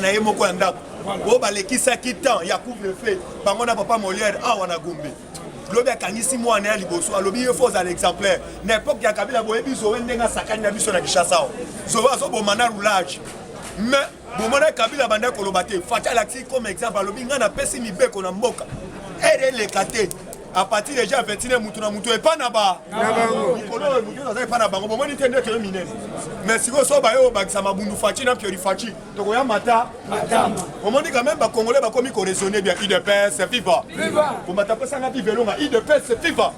na ye moko ya ndako oyo balekisaki temps ya couvre feu bango na papa moliere awa na gombe lobi akangisi mwana ya liboso alobi ye fo ozala exemplaire na epoke ya kabila boyebi zoe ndenge asakani na biso na kinshasa awa zoe azoboma na roulage mais bomona kabila banda koloba te fati alakisi comme exemple alobi ngai napesi mibeko na mboka ere eleka te à partir deja ya 21 mutu na mutu epa na ba mikolo oyo mutu aza epa na bango bomoni te nde toye minene mais sikoyo so baye obakisa mabundu faci na piori faci tokoya mata matama omoni quand même bacongolais bakomi koraisonne bien udps viva kombata pesanga bivelonga udps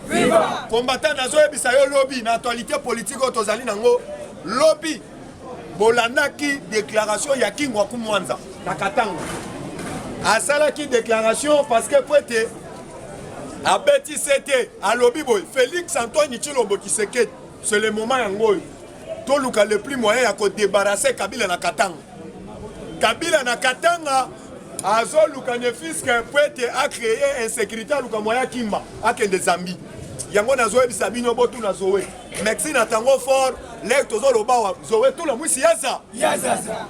viva kombata nazoyebisa yo lobi na actualité politique oyo tozali nango lobi Bolandaki declaration ya Kingwaku Mwanza na Katanga, asalaki declaration parce que po ete abeti sete, alobi boye Felix Antoine Tshilombo Tshisekedi, c'est le moment yango oyo toluka le plus moyen ya kodebarase Kabila na Katanga. Kabila na Katanga azoluka ne fiske po ete acreye insécurité, aluka moyen akimba akende Zambie. Yango nazoyebisa bino botuna Zoe. Merci na tango fort lek tozoloba wa zoe tola mwisi yaza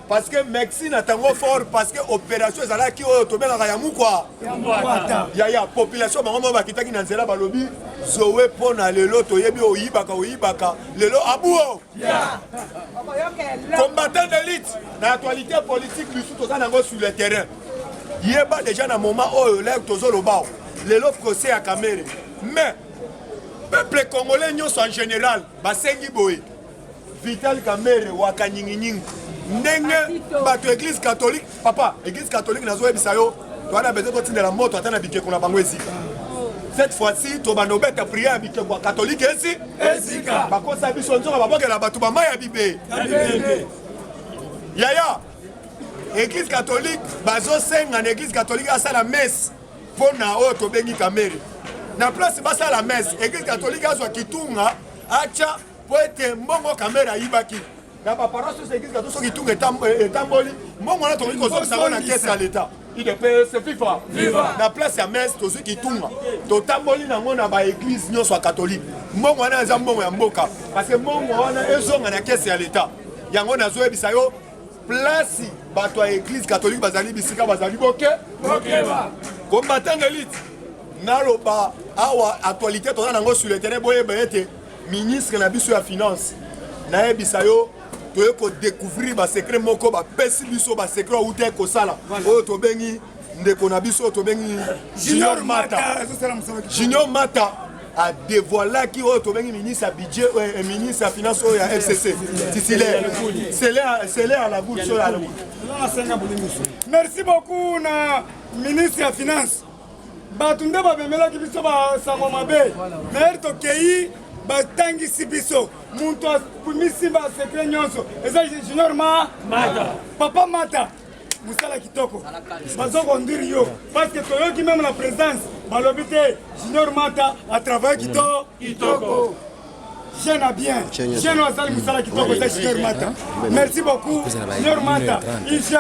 parce que merci na tango fort parce que opération ezalaki oyo tobengaka ya mukwa ya ya population bango moko bakitaki na nzela balobi zoe mpo na lelo toyebi oyibaka oyibaka lelo abuo combattant d'élite na actualité politique bisu toza nango sur le terrain yeba déjà na moment oyo lek tozoloba lelo procès ya kamere mais Peuple congolais nyonso en general basengi boye Vital Kamerhe waka nyinginyingi ndenge bato ya eglise catholique papa eglise catholique nazoyebisa yo towana bezo totindela moto ata na bikeko na bango ezika cette fois-ci tobanda obeta prière ya bikeko ya katolike esi ezika bakosa biso nzoka babokela bato bamai ya bibe yaya eglise catholique bazosenga na eglise catholique asala messe mpo na oyo tobengi kamere na place basala mese eglise katolike azwa kitunga acha mpo ete mbongo kamere ayibaki na baparoise oso eglise kato soki kitunga etamboli mbongo wana tokoki kozongisa yango na kese ya leta idps fifa na place ya mese tozwi kitunga totamboli nango na baeglise nyonso ya katolike mbongo wana eza mbongo ya mboka parce mbongo wana ezonga na kese ya leta yango nazoyebisa yo place bato ya eglise catholique bazali bisika bazali boke bokeba combattant elite naloba awa actualité toza nango sur le terrain boyeba ete ministre na biso ya finance nayebisa yo toye kodécouvrir basecret moko bapesi biso basecret auta kosala oyo tobengi ndeko na biso oyo tobengi junior mata junior mata adevoilaki oyo tobengi ministre ya budget euh, euh, ministre ya finance oyo ya fcc titulaire sele ya lagoul so ya lagoul merci beaucoup na ministre ya finance bato nde bamemelaki biso basango mabe maire tokei batangisi biso moto misimba secret nyonso eza junior ma mata papa mata musala kitoko bazo conduire yo parce que toyoki meme na présence balobi te junior mata atravaille kitoko kitoko jeune à bien jeune azali musala kitoko eza junior mata merci beaucoup junior mata igf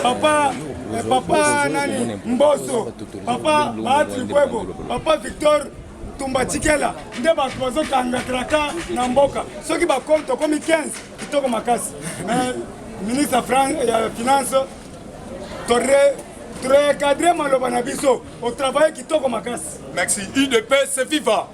papa eh, papa nani mboso papa baatri kwebo papa victor tumba tikela nde bato bazokanga traka na mboka soki bakomi tokomi 15 Kitoko makasi. Mais ministre ya finance tordre recadre maloba na biso otravaille kitoko makasi merci udps viva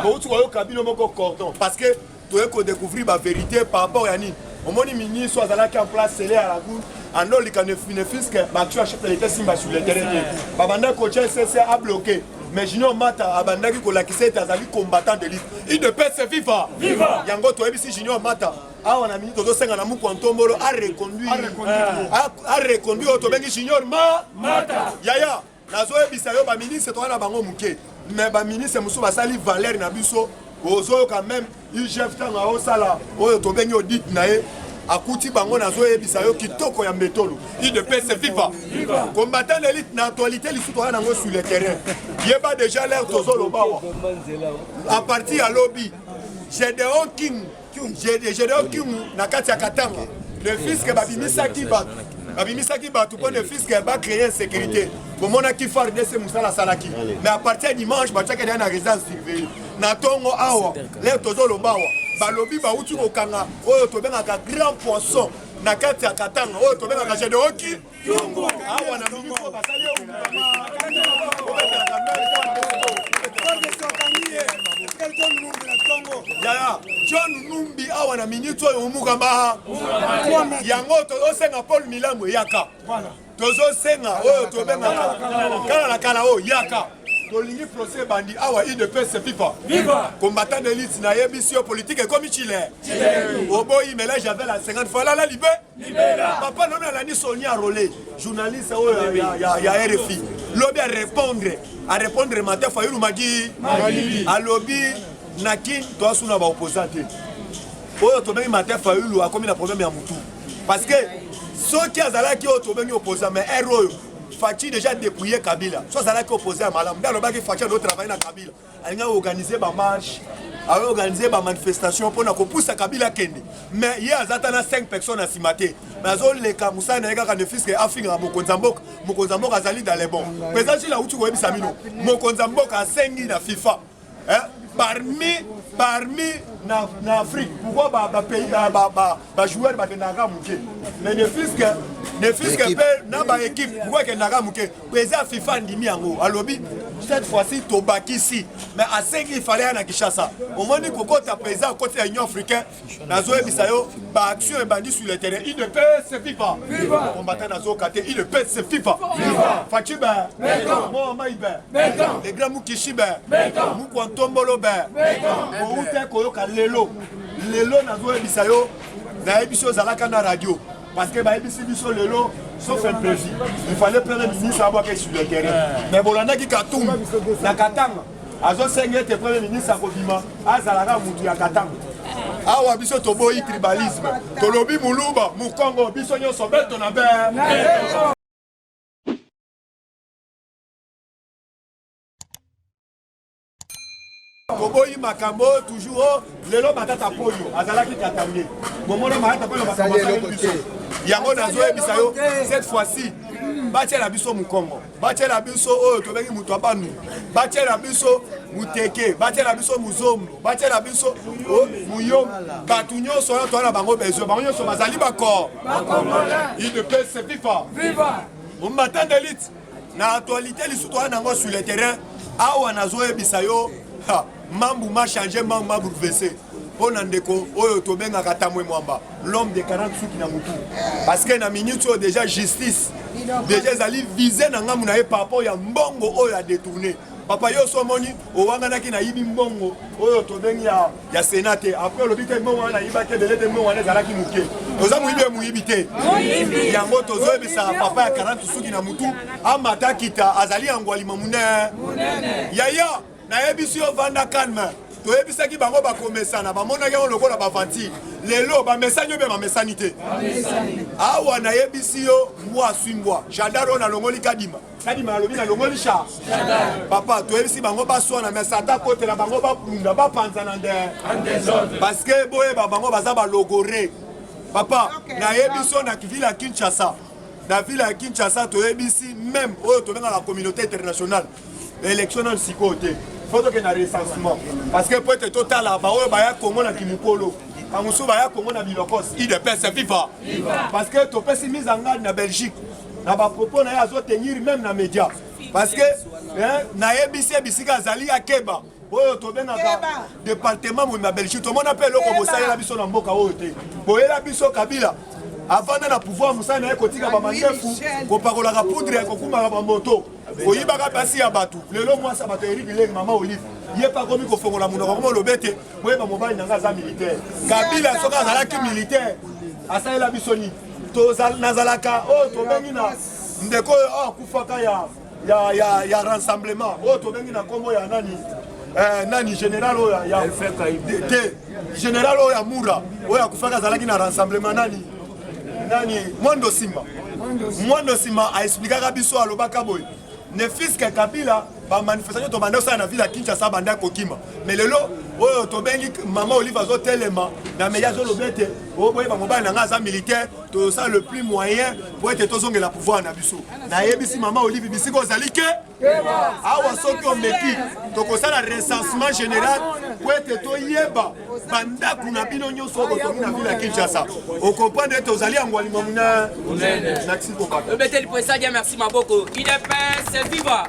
bouti koyoka bino moko cordon parce que toye kodécouvrir bavérité par rapport ya nini omoni ministre azalaki en place sele ya lagoune andolika nefiske baaction ya chef de l'état esimba sur le terrain te babandaki kotya ssc abloqué mais junior mata abandaki kolakisa ete azali combattant de lutte udps viva viva yango toyebisi junior mata awa na mingi tozosenga na mukwa ntombolo areconduire oyo tobengi junior ma mata yaya nazoyebisa yo baministre toza na bango moke mais baministre mosusu basali valeur na biso ozoyoka meme igf ntango aosala oyo tobengi audit na ye akuti bango nazoyebisa yo kitoko ya mbetolo idps viva combattant d'élite na actualité lisusu toza nango sur le terrain yeba déjà l'air tozoloba awa à partir ya lobi gedeon king gedeon king na kati ya katanga le fiske babimisaki bato babimisaki bato mpo le fiske bacreye insécurité bomonaki fardc mosala asalaki mais à partir ya dimanche batiaki deya na résidence surveille na tongo awa leo tozoloba awa balobi bauti kokanga oyo tobengaka grand poisson na kati ya katanga oyo tobengaka jedeoki awa na miniko basali yaya john numbi awa na miniti oyo omukamba yango tozosenga paul milambo eyaka tozosenga oyo tobengaka kala na kala oyo yaka tolingi procès ebandi awa udps viva viva combattant de lutte nayebisi yo politike ekomi chile oboyi melage ya vela 50 fois lala libe papa lobi alandi soni arole journaliste oyo ya rfi lobi arépondre arépondre mate fayulu magi alobi na kin toasuna baopposant te oyo tobengi mate fayulu akomi na problème ya motu parce que soki azalaki oyo tobengi opposant mais r oyo faci déjà dépouillé kabila so azalaki opposé ya malamu nde alobaki faci ado travaille na kabila alingi aorganize bamarche aorganize bamanifestation mpona kopusa kabila akende mais ye aza ata na 5 personnes na nsima te mais azoleka mosala na ye kaka nefiske afingaka mokonzi ya mboka mokonzi ya mboka azali dalebon président jile auti koyebisa bino mokonzi ya mboka asengi na fifa hein? parmi parmi na, na afrique pourquoi bapays ba, ba, ba, ba, joueur bakendaka moke mais ne fiske ne fiske mpe na baéquipe pourquoi ekendaka moke président fifa andimi yango alobi cette fois-ci tobakisi mais asengi ifale ya na kinshasa omoni kokota président akoti ya union africain nazoyebisa yo ba action ebandi sur le terrain il ne peut se viva combattant nazoyoka te il ne peut se viva faci ben moamai ben le grand mukishi ben mukwa ntombolo ben outa koyoka lelo lelo nazoyebisa yo nayebisi ozalaka na radio parce que bayebisi biso lelo sauf imprévu il fallait premier ministre abwaka sur le terrain mais bolandaki katum na katanga azo senga ete premier ministre akobima azalaka mutu ya katanga awa biso toboyi tribalisme tolobi muluba mukongo biso nyonso beto na be toboyi makambo oyo toujours oh, lelo matata polio azalaki katange bomona matata polio makambo asali biso yango nazoyebisa yo cette fois-ci batyela biso mokongo batiela biso oyo tobengi moto abanu batiela biso muteke batiela biso muzombo batiela biso muyo bato nyonso oyo toa na bango besoin bango nyonso bazali bakor udps viva omatan delite na actualité lisusu toa nango sur le terrain awa nazoyebisa yo Mambu ma change mambu ma boulevese mpo na ndeko oyo tobengaka tamwe mwamba l'homme de 40 suki na motu parce que na minute oyo déjà justice déjà ezali vise na ngambu na ye par rapport ya mbongo oyo adetourne papa yo so omoni owanganaki nayibi mbongo oyo tobengi ya, ya sena te apres olobi te mbongo wana nayibaki ebele te mbongo wana ezalaki moke oza moyibi ye moyibi te yango tozoyebisa papa ya 40 suki na motu amata kita azali yango alima monene yaya nayebisi yo vanda calme toyebisaki bango bakomesana bamonaki yango lokola bavantire lelo bamesani yo mpe bamesani te awa nayebisi yo mbwa aswi mbwa jadar oyo nalongoli kadima kadima alobi nalongoli sha papa toyebisi bango baswana me sata kotela bango babunda bapanzana nde parceke boyeba bango baza balogore papa nayebisi yo na ville ya kinshasa na ville ya kinshasa toyebisi meme oyo tobengaka communauté internationale Election nanu sikoyo te. Faut tokende na recensement. Parce que po ete totala baoyo baya Congo na kimokolo. Bamosusu baya Congo na bilokos. Udps viva. Parce que topesi mise en garde na Belgique. Na ba propos na ye azo tenir même na media. Parce que eh, nayebisi ye bisika azali akeba. oyo tobengaka departement moni na belgique tomona mpe eloko bosalela biso na mboka oyo te boyela biso kabila avanda na pouvoir mosala na ye kotika bamandefu kopakolaka poudre ya kokumaka bamoto koyibaka basi ya bato lelo mwasi ya bato eri bilenge mama olive ye mpe akomi kofongola monoko koma olobe te boyeba mobali na ngai aza militaire kabila soki azalaki militaire asalela biso nini nazalaka oyo tobengi na ndeko oyo akufaka ya ya, ya, ya rassemblement oyo tobengi na nkombo ya nani eh, nani général oyo ya te général oyo ya mura oyo akufaka azalaki na rassemblement nani nani mwando simba mwando simba aexplikaka biso alobaka boye ne fiske kabila bamanifestation tobanda osala na ville ya kinshasa banda kokima me lelo oyo tobengi mama olive azotelema na meya azoloba ete oboye bamobali na ngai aza militaire tozosala le plus moyen po ete tozongela pouvoir na biso nayebisi mama olive bisika ozali ke awa soki omeki tokosala recensement général po ete toyeba bandako na bino nyonso oyo botongi na vile ya kinshasa okomprendre ete ozali yango alima muna nakisi kobaka obeteli po esali ya merci maboko idps viva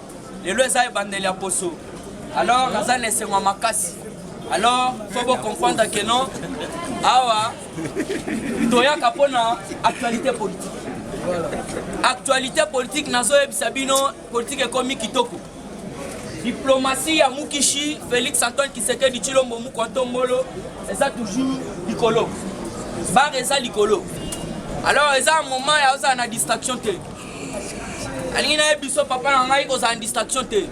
lelo eza ebandeli ya poso alors naza na esengo ya makasi alors faut bocomprendre que non awa toyaka mpo na actualité politique actualité politique nazoyebisa bino politike ekomi kitoko diplomasi ya mukishi félix antoine kisekedi tshilombo mukwa ntombolo eza toujours likolo bare eza likolo alors eza moment ya ozala na distraction te alingi naye biso papa na ngai kozala distraction te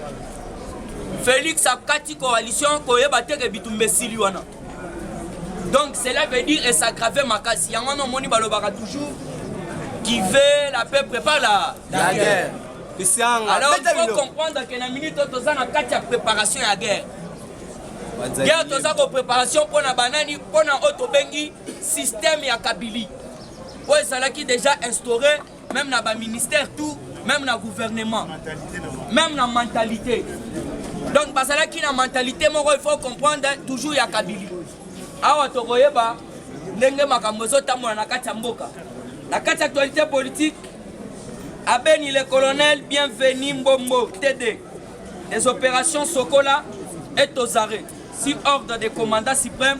félix akati coalition koyeba te ke bitumba esili wana donc cela veut dire esagrave makasi yango wana omoni balobaka toujours qui veut la paix prépare la, la guerre alors il faut comprendre que na minute oyo toza na kati ya préparation ya guerre guerre toza ko préparation mpo na banani mpo na oyo tobengi système ya kabili oyo ezalaki déjà instauré meme na ba ministère tout meme na gouvernement meme na mentalité donc bazalaki na mentalité moko il faut comprendre toujours ya kabili awa tokoyeba ndenge makambo ezotambola na kati ya mboka na kati ya actualité politique abeni le colonel bienvenu mbombo td des opérations sokola et tozare si ordre de commandant suprême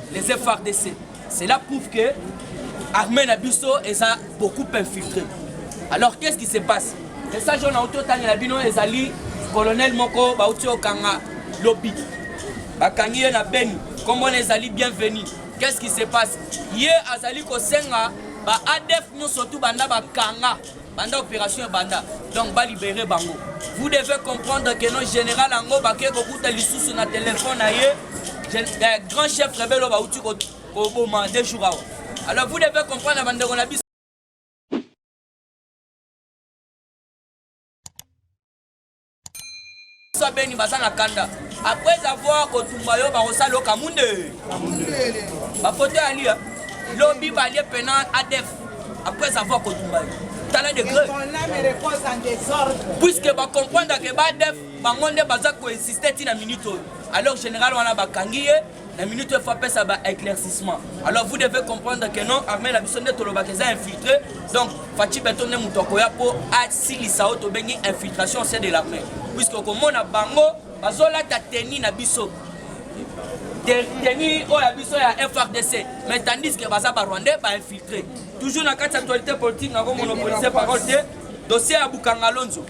les FRDC cela prouve que armée na biso eza beaucoup infiltré alors qu'est-ce qui se passe message oyo nauti otangela bino ezali colonel moko bauti okanga lobi bakangi ye na beni nkombo na ezali bienvenu qu'est-ce qui se passe ye azali kosenga ba adf nyonso tu banda bakanga banda opération ebanda donc balibere bango vous devez comprendre que no général yango bakei kokuta lisusu na telefone na ye eh, grand chef rebele oyo bauti koboma de jour awa alors vous devez comprendre bandeko na biso biso abeni baza na kanda après avoir kotumba yo bakosala oka munde bafoto ya lia lobi balie pena adef après avoir kotumba yo tala degre puiske bacomprendre ke badef bango nde baza koexiste ntina minute oyo alors général wana bakangi ye na minute il faut apesa ba éclaircissement alors vous devez comprendre que non armée na biso nde tolobaka eza infiltré donc faci beto nde moto akoya mpo asilisa oyo tobengi infiltration se de l'armée puisque okomona bango bazolata teni na biso teni oyo ya biso ya frdc mais tandis que baza barwandais bainfiltré toujours na kati ya actualité politique nakomonopolise parole te dossier ya bukangalonzo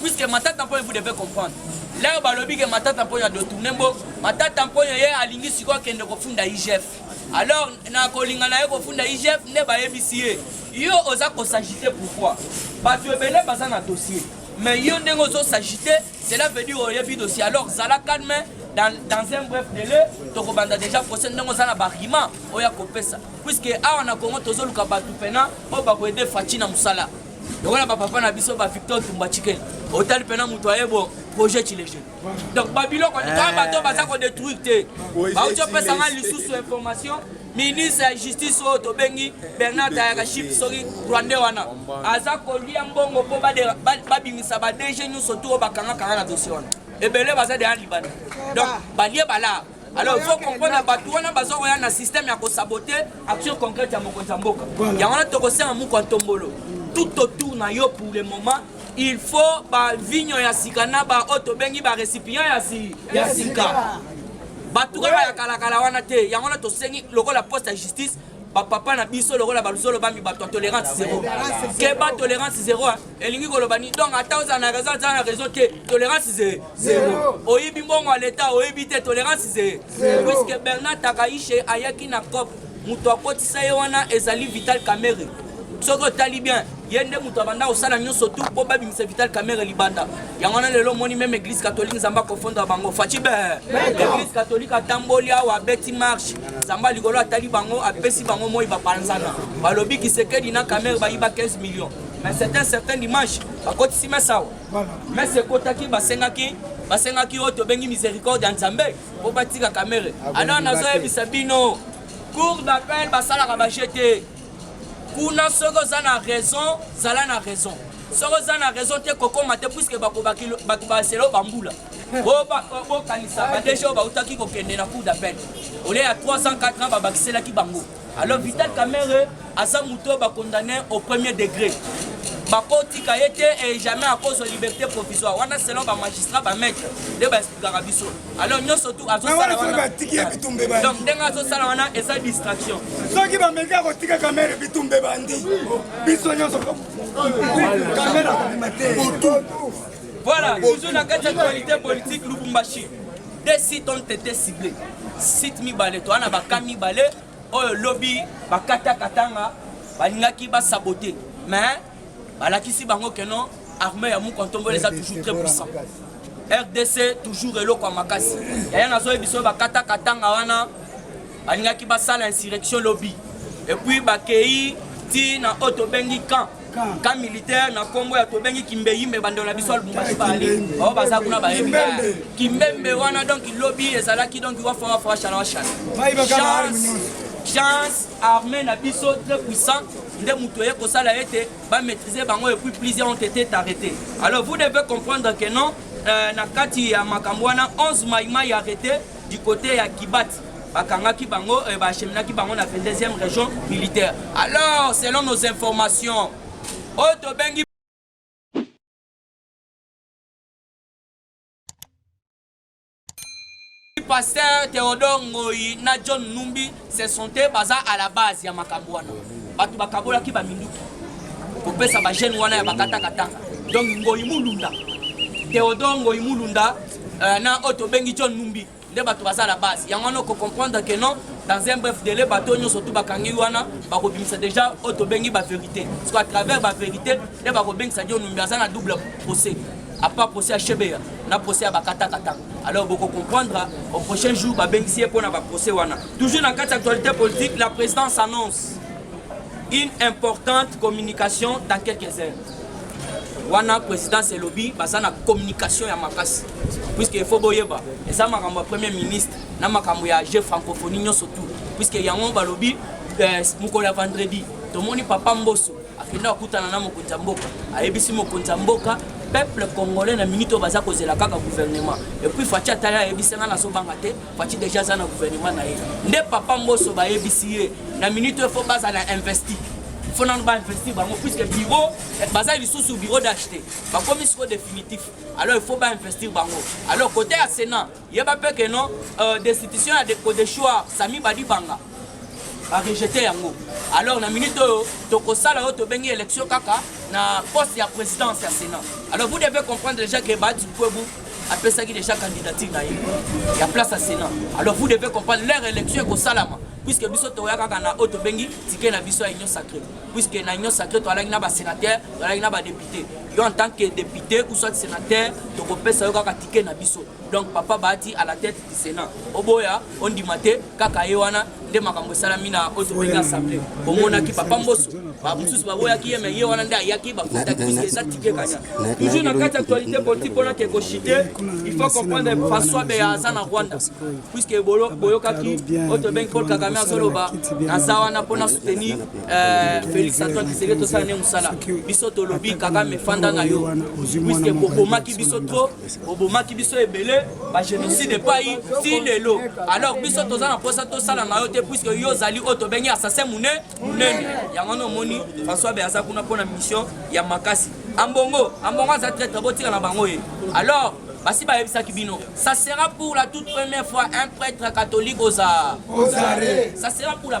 puisque matata mponyo vous devez comprendre leo balobi ke matata mponyo adotourne mbo matata mponyo ye alingi sikoyo akende kofunda igf alors na kolinga na ye kofunda igf nde bayebisi ye yo oza kosagite pourquoi bato ebele baza na dossier mais yo ndenge ozosagite cela veut dire oyebi dossier alors zala calme dans, dans un bref délai tokobanda déjà procès ndenge oza na baargument oyo akopesa puisque awa na congo tozoluka bato mpena oyo bakoyede faci na mosala lokola bapapa na biso ba victor tumba chiken otali mpena moto aye bo projet chilege donc babiloko eh. toa bato baza kodetruire te bauti opesa ngai lisusu information ministre ya justice oyo tobengi bernard tayaka chip soki rwandais wana aza kolia mbongo mpo babimisa badg nyonso to oyo bakangakanga na dossier wana ebele baza deya libanda donc balie balaa Alors il faut comprendre bato wana baza koya na système ya kosabote action concrète ya mokonzi ya mboka yango wana tokosenga moko ya ntombolo tout autour na yo pour le moment il faut bavinyo ya sika na baoyo tobengi barécipient ya sika bato kaka ya kalakala wana te yango wana tosengi lokola poste ya justice bapapa na biso lokola baluzolo bambi bato ya tolerance zero keba tolerance zero elingi koloba ni donc ata ozala na raison azala na raison te tolerance ze zero oyibi mbongo ya leta oyibi te tolerance ze puisque bernard takaishe ayaki na cop moto akotisa ye wana ezali vital kamere soki otali bien ye nde moto abanda kosala nyonso tu mpo babimisa vital kamere libanda yango wana lelo omoni meme église catholique nzambe akofondra bango faci be église catholique atamboli awa abeti marche nzambe ya likolo atali bango apesi bango moi bapanzana balobi kisekedi na kamere bayiba 15 millions mais c'est un certain dimanche bakotisi mesa awa mesa ekotaki basengaki basengaki oyo tobengi miséricorde ya nzambe mpo batika kamere alors nazoyebisa bino cour d'appel basalaka baje te kuna soki oza na raison zala na raison soki oza na raison te kokoma te puiske bato baselo bambula bokanisa badege oyo bautaki kokende na cour d'appel olie ya 304 ans babakiselaki bango Alors Vital Kamerhe aza moto oyo bakondane au premier degré bakotika ye te et jamais akozwa liberté provisoire wana selon bamagistrat bamaitre nde baexplikaka biso alors nyonso tu azosala wana donc ndenge azosala wana eza distraction soki bameki akotika kamere bitumbe bandi biso nyonso kamere akobima te voilà toujours na kati ya actualité politique lubumbashi de site ont été ciblés site mibale toa na baka mibale oyo lobi bakata katanga balingaki basabote mais balakisi bango ke non armée ya mukontombola eza toujours très puissant rdc toujours eloko ya makasi yaya nazoyebi biso bakata katanga wana balingaki basala insurrection lobi epuis bakei ti na oyo tobengi camp ka militaire na kombo ya tobengi kimbeyimbe bandelo na biso alubumbashi bali bao baza kuna bayebi kimbembe wana donc lobi ezalaki donc wafawafaashana washana chance armée na biso très puissant nde moto eye kosala ete bamaîtrise bango epuis plusieurs ont été arrêté alors vous devez comprendre que non euh, na kati ya makambo wana 11 maimai arrêté du côté ya kibati bakangaki bango eh, bacheminaki bango na 22e région militaire alors selon nos informations oyo tobengi pasteur Théodore Ngoyi na John Numbi se sentait baza à la base ya makambo wana bato bakabolaki baminduki kopesa bajeune wana ya bakatakataka donc Ngoyi Mulunda Théodore Ngoyi Mulunda euh, na oyo tobengi John Numbi nde bato baza la base yango wana oko comprendre que non dans un bref délai bato nyonso tu bakangi wana bakobimisa déjà oyo tobengi baverité parce que à travers baverité nde bakobengisa dio numbi aza na double procès apa procès ya shebeya na procès ya bakatakatanga alors boko comprendre au prochain jour babengisi ye mpo na baprocès wana toujours na kati ya actualité politique la présidence annonce une importante communication dans quelques heures wana présidence elobi baza na communication ya makasi puisque il faut boyeba eza makambo ya premier ministre na makambo ya jeu francophonie nyonso tout puisque yango balobi eh, mokolo ya vendredi tomoni papa mboso akende akutana na mokonzi ya mboka ayebisi mokonzi ya mboka peuple congolais na minute oyo baza kozela kaka gouvernement epuis faci atali ayebisi nga nazobanga te Fatshi deja aza na gouvernement na ye nde papa mboso bayebisi ye na minute oyo fo bazala investi fo nano bainvesti bango puisque bureau eh, baza lisusu bureau d'acheter bakomi siko définitif alors il faut bainvestir bango alors côté ya sénat yeba mpe keno euh, destitution ya kodeshua sami badibanga barejete yango alors na minute oyo tokosala oyo tobengi élection kaka na poste ya présidence ya sénat alors vous devez comprendre déjà que baadi kwebu apesaki déjà candidature na ye ya place ya sénat alors vous devez comprendre leur élection ekosalama puisque biso toya kaka na oyo tobengi tike na biso ya union sacré puisque na union sacré toalaki na basénateur toalaki na badepute yo en tant que député ou soit sénateur tokopesa yo kaka tike na biso donc papa baati à la tête Senat oboya ondima te kaka ye wana nde makambo esalami na oyo tobengi assemble omonaki papa mboso bamosusu baboyaki ye me ye wana nde ayaki bafutaki puiske eza tike kanya toujours na kati actualité politique mpona ke koshite il faut comprendre françois beya aza na rwanda puiske boyokaki oyo tobengi paul kagame azoloba naza wana mpona soutenir euh, félix antoine kiseke tosala ne mosala biso tolobi kagame fanda na yo puiske bokomaki biso trop obomaki biso ebele bagénocide epai ti lelo alors biso toza na mposa tosala na yo te puiske yo ozali oyo tobengi assassin mune munene yango wana omoni françois be aza kuna mpo na mission ya makasi ambongo ambongo aza traitre botika na bango ye alors basi bayebisaki bino ça sera pour la toute première fois un prêtre catholique oza ça sera pour la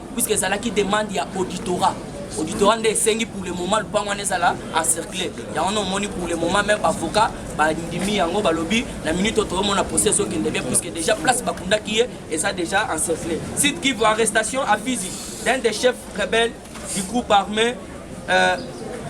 puisque ezalaki demande ya auditorat auditorat nde esengi pour le moment lupango wana ezala encercle yango wana omoni pour le moment meme bavocat bandimi yango balobi na minute oyo toyomona procès ezokende bien puisque déjà place bakundaki ye eza déjà encercle site kivu arrestation à fizi d'un des chefs rebelles du groupe armé euh,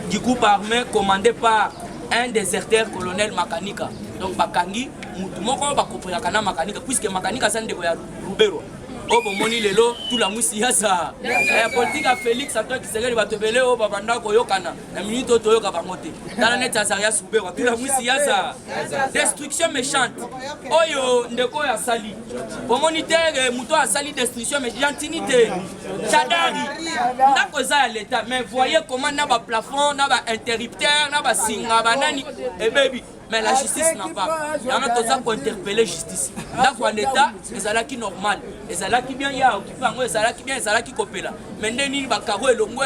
du groupe armé commandé par un déserteur colonel makanika donc bakangi motu moko bakoperaka na makanika puisque makanika aza ndeko ya ruberwa oyo oh, bomoni lelo tulamwisi yasa eh, politike ya félix antoine kisekeli bato ebele oyo oh, babanda koyokana na minute oyo toyoka bango te tala neti azaria subewa tulamwisi yasa destruction méchante oyo oh, ndeko oyo asali bomoni te eh, moto oyo asali destruction gentini te chadari ndako eza ya leta mais voye comment na baplafond na bainterrupteur na basinga banani ebebi eh, mais la justice n'a pas yango toza kointerpele justice ndako ya leta ezalaki normal ezalaki bien ya okipe yango ezalaki bien ezalaki kopela mais nde nini bakaro elongwe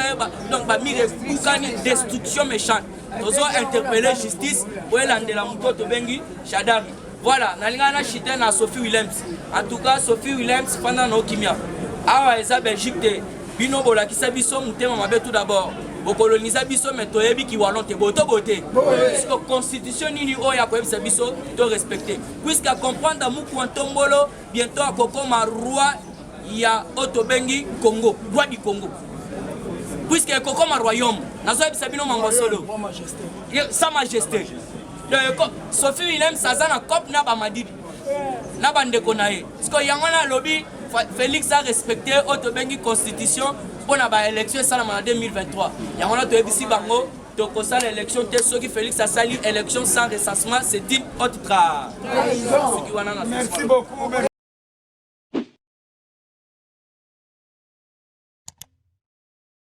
donc bamire ebukani destruction méchante tozo interpele justice oyo elandela moto tobengi shadari voilà nalingaka na chite na sophie willems en tout cas sophie willems fanda na okimia awa eza belgique te bino bolakisa biso motema mabe tout d'abord bokolonisa biso me toyebi kiwalon te boto bote puisque constitution nini oyo akoyebisa biso to respecte puisque acomprendre mukua ntombolo bientôt akokoma roi ya oyo tobengi congo roi du congo puisque ekokoma royaume nazoyebisa bino mango solo sa majesté sophie williams aza na cope na bamadidi na bandeko na ye sikoyo yango wana alobi félix arespecte oyo tobengi constitution mpo na baélection esalama na 2023 yango wana toyebisi bango tokosala élection te soki félix asali élection sans recensement c'est une autre tra soki wana na